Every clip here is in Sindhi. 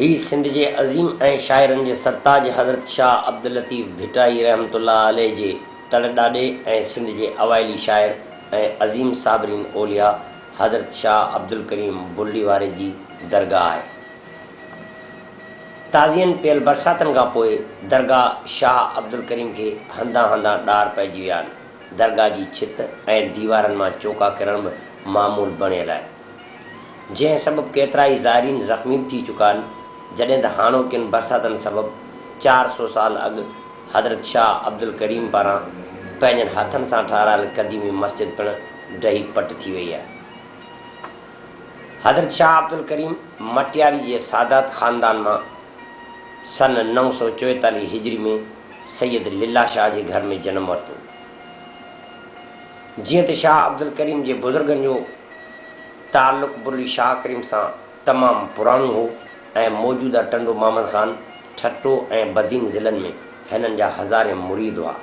هي سنڌ جي عظيم ۽ شاعرن جي سرتاج حضرت شاهه عبداللطيف ڀٽائي رحمة الله عليه جي تڙ ڏاڏي ۽ سنڌ جي اوائلي شاعر ۽ عظيم صابرين اولياء حضرت شاهه عبدالڪريم بلڙي واري جي درگاهه آهي. تازين پيل برساتن کان پوء درگاهه شاهه عبدالڪريم کي هنڌان هنڌان ڏار پئجي ويا آهن. درگاهه جي ڇت ۽ ديوارن مان چوڪا ڪرڻ به معمول بڻيل آهي. جنهن سبب ڪيترائي زائرين زخمي به ٿي چڪا آهن، جڏهن ته هاڻوڪين برساتن سبب چار سؤ سال اڳ حضرت شاهه عبدالڪريم پاران پنهنجن هٿن سان ٺهرايل قديمي مسجد پڻ ڊهي پٽ ٿي وئي آهي. حضرت شاهه عبدالڪريم مٽياري جي سادات خاندان مان سن نو سؤ چويتاليهه هجري ۾ سيد لله شاهه جي گهر ۾ جنم ورتو. جيئن ته شاهه عبدالڪريم جي بزرگن جو تعلق برلي شاهه ڪريم سان تمام پراڻو هو ۽ موجوده ٽنڊو محمد خان، ٺٽو ۽ بدين ضلعن ۾ هنن جا هزارين مريد هئا.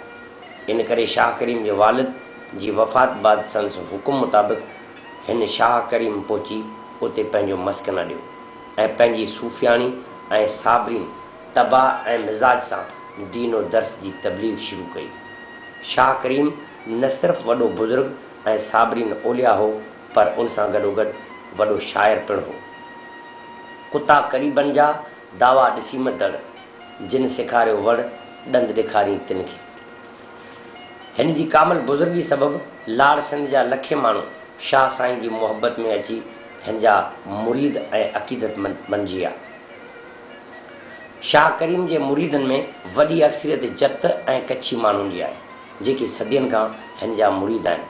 ان ڪري شاهه ڪريم جي والد جي وفات بعد سندس حڪم مطابق هن شاهه ڪريم پهچي اتي پنهنجو مسڪن اڏيو ۽ پنهنجي صوفياڻي ۽ صابرين طبع ۽ مزاج سان دين و درس جي تبليغ شروع ڪئي. شاهه ڪريم. نه صرف وڏو بزرگ ۽ صابرين اولياء هو پر ان سان گڏوگڏ وڏو شاعر پڻ هو. ڪتا قريبن جا دعوا ڏسي م دڙ، جن سيکاريو وڙ، ڏند ڏيکارين تن کي. هن جي ڪامل بزرگي سبب لاڙ سنڌ جا لکين ماڻهو شاهه سائين جي محبت ۾ اچي هن جا مريد ۽ عقيدتمند بنجي ويا. شاهه ڪريم جي مريدن ۾ وڏي اڪثريت جت ۽ ڪڇي ماڻهن جي آهي. جيڪي صدين کان هن جا مريد آهن.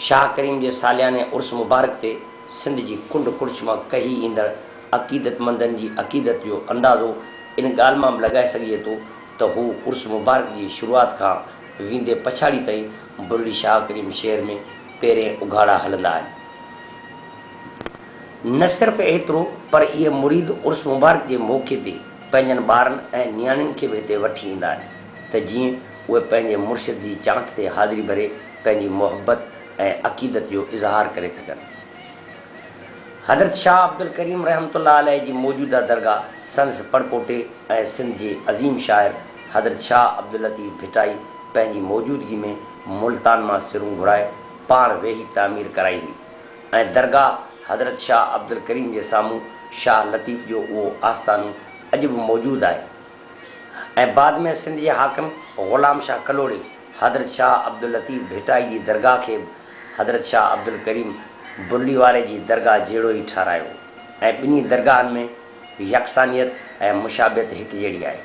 شاهه ڪريم جي سالياني عرس مبارڪ تي سنڌ جي ڪنڊ ڪڙڇ مان ڪهي ايندڙ عقيدتمندن جي عقيدت جو اندازو ان ڳالهه مان به لڳائي سگهجي ٿو ته هو عرس مبارڪ جي شروعات کان ويندي پڇاڙي تائين برڙي شاهه ڪريم شهر ۾ پيرين اگهاڙا هلندا آهن. نه صرف ايترو پر اهي مريد عرس مبارڪ جي موقعي تي پنهنجن ٻارن ۽ نياڻين کي به هتي وٺي ايندا آهن ته جيئن اهي پنهنجي مرشد جي چانٺ تي حاضري ڀري پنهنجي محبت ۽ عقيدت جو اظهار ڪري سگهن. حضرت شاهه عبدالڪريم رحمة الله عليه جي موجوده درگاهه سندس پڙپوٽي ۽ سنڌ جي عظيم شاعر حضرت شاهه عبداللطيف ڀٽائي پنهنجي موجودگي ۾ ملتان مان سرون گهرائي پاڻ ويهي تعمير ڪرائي هئي ۽ درگاهه حضرت شاهه عبدالڪريم جي سامهون شاهه لطيف جو اهو آستانو اڄ به موجود آهي. ۽ بعد ۾ سنڌ جي حاڪم غلام شاهه ڪلهوڙي حضرت شاهه عبداللطيف ڀٽائي جي درگاهه کي به حضرت شاهه عبدالڪريم برلي واري جي درگاهه جهڙو ئي ٺهرايو ۽ ٻنهي درگاهن ۾ يڪسانيت ۽ مشابهت هڪ جهڙي آهي.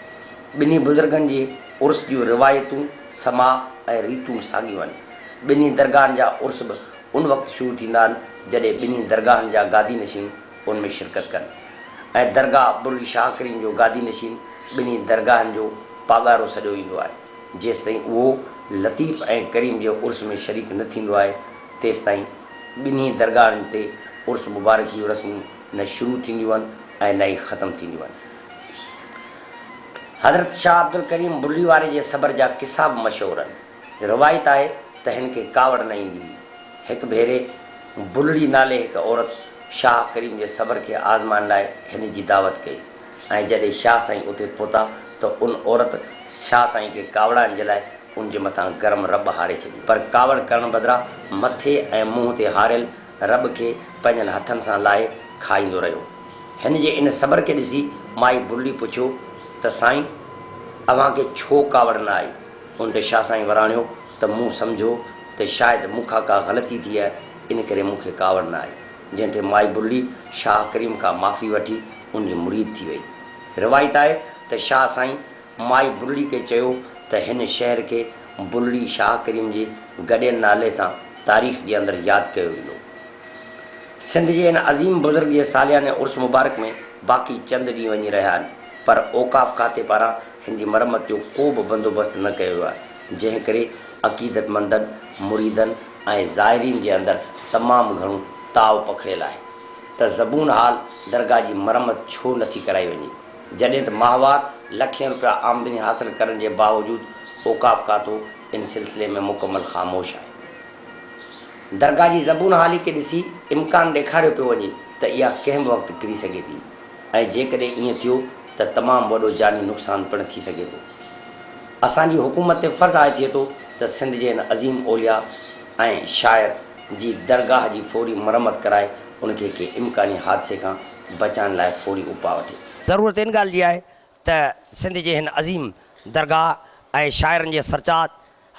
ٻنهي بزرگن جي عرس جون روايتون، سماع ۽ ريتون ساڳيون آهن. ٻنهي درگاهن جا عرس به ان وقت شروع ٿيندا آهن جڏهن ٻنهي درگاهن جا گادي نشين، ان ۾ شرڪت ڪن ۽ درگاهه عبدالعلي شاهه ڪريم جو گادي نشين ٻنهي درگاهن جو پاڳارو سڏيو ويندو آهي، جيستائين اهو لطيف ۽ ڪريم جي عرس ۾ شريڪ نه ٿيندو آهي تيستائين ٻنهي درگاهن تي عرس مبارڪ جون رسمون نه شروع ٿينديون آهن ۽ نه ئي ختم ٿينديون آهن. حضرت شاهه عبدالڪريم بلي واري جي صبر جا قصا به مشهور آهن. روايت آهي ته هن کي ڪاوڙ نه ايندي هئي. هڪ ڀيري بلڙي نالي هڪ عورت شاهه ڪريم جي صبر کي آزمائڻ لاء هن جي دعوت ڪئي ۽ جڏهن شاهه سائين اتي پهتا ته ان عورت شاهه سائين کي ڪاوڙائڻ جي لاء ان جي مٿان گرم رٻ هاري ڇڏي. پر ڪاوڙ ڪرڻ بدران مٿي ۽ منهن تي هاريل رٻ کي پنهنجن هٿن سان لاهي کائيندو رهيو. هن جي ان صبر کي ڏسي مائي بلڙي پڇيو ته سائين اوهان کي ڇو ڪاوڙ نه آئي؟ ان تي شاهه سائين وراڻيو ته مون سمجهيو ته شايد مون کان ڪا غلطي ٿي آهي، ان ڪري مون کي ڪاوڙ نه آئي، جنهن تي مائي برلي شاهه ڪريم کان معافي وٺي ان جي مريد ٿي وئي. روايت آهي ته شاهه سائين مائي برلي کي چيو ته هن شهر کي برلي شاهه ڪريم جي گڏيل نالي سان تاريخ جي اندر ياد ڪيو ويندو. سنڌ جي هن عظيم بزرگ جي سالياني عرس مبارڪ ۾ باقي چند ڏينهن وڃي رهيا آهن پر اوقاف کاتي پاران هن جي مرمت جو ڪو به بندوبست نه ڪيو ويو آهي، جنهن ڪري عقيدتمندن، مريدن ۽ زائرين جي اندر تمام گهڻو تاء پکڙيل آهي ته زبون حال درگاهه جي مرمت ڇو نٿي ڪرائي وڃي، جڏهن ته ماهوار لکين رپيا آمدني حاصل ڪرڻ جي باوجود اوقاف کاتو ان سلسلي ۾ مڪمل خاموش آهي. درگاهه جي زبون حالي کي ڏسي امڪان ڏيکاريو پيو وڃي ته اها ڪنهن به وقت ڪري سگهي ٿي. ۽ جيڪڏهن ائين ٿيو ته تمام وڏو جاني نقصان پڻ ٿي سگهي ٿو. اسان جي حڪومت تي فرض آهي ٿئي ٿو ته سنڌ جي هن عظيم اولياء ۽ شاعر جي درگاهه جي فوري مرمت ڪرائي ان کي ڪنهن امڪاني حادثي کان بچائڻ لاء فوري اپاء وٺي. ضرورت ان ڳالهه جي آهي ته سنڌ جي هن عظيم درگاهه ۽ شاعرن جي سرچاٽ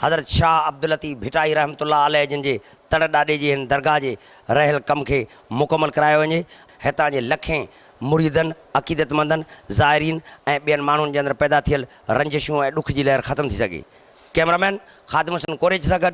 حضرت شاهه عبداللطيف ڀٽائي رحمة الله عليه جن جي تڙ ڏاڏي جي هن درگاهه جي رهيل ڪم کي مڪمل ڪرايو وڃي ۽ هتان جي لکين مريدن، عقيدتمندن، زائرين ۽ ٻين ماڻهن جي اندر پيدا ٿيل رنجشون ۽ ڏک جي لهر ختم ٿي سگهي. ڪئميرامين خادم حسين ڪوريچ سان گڏ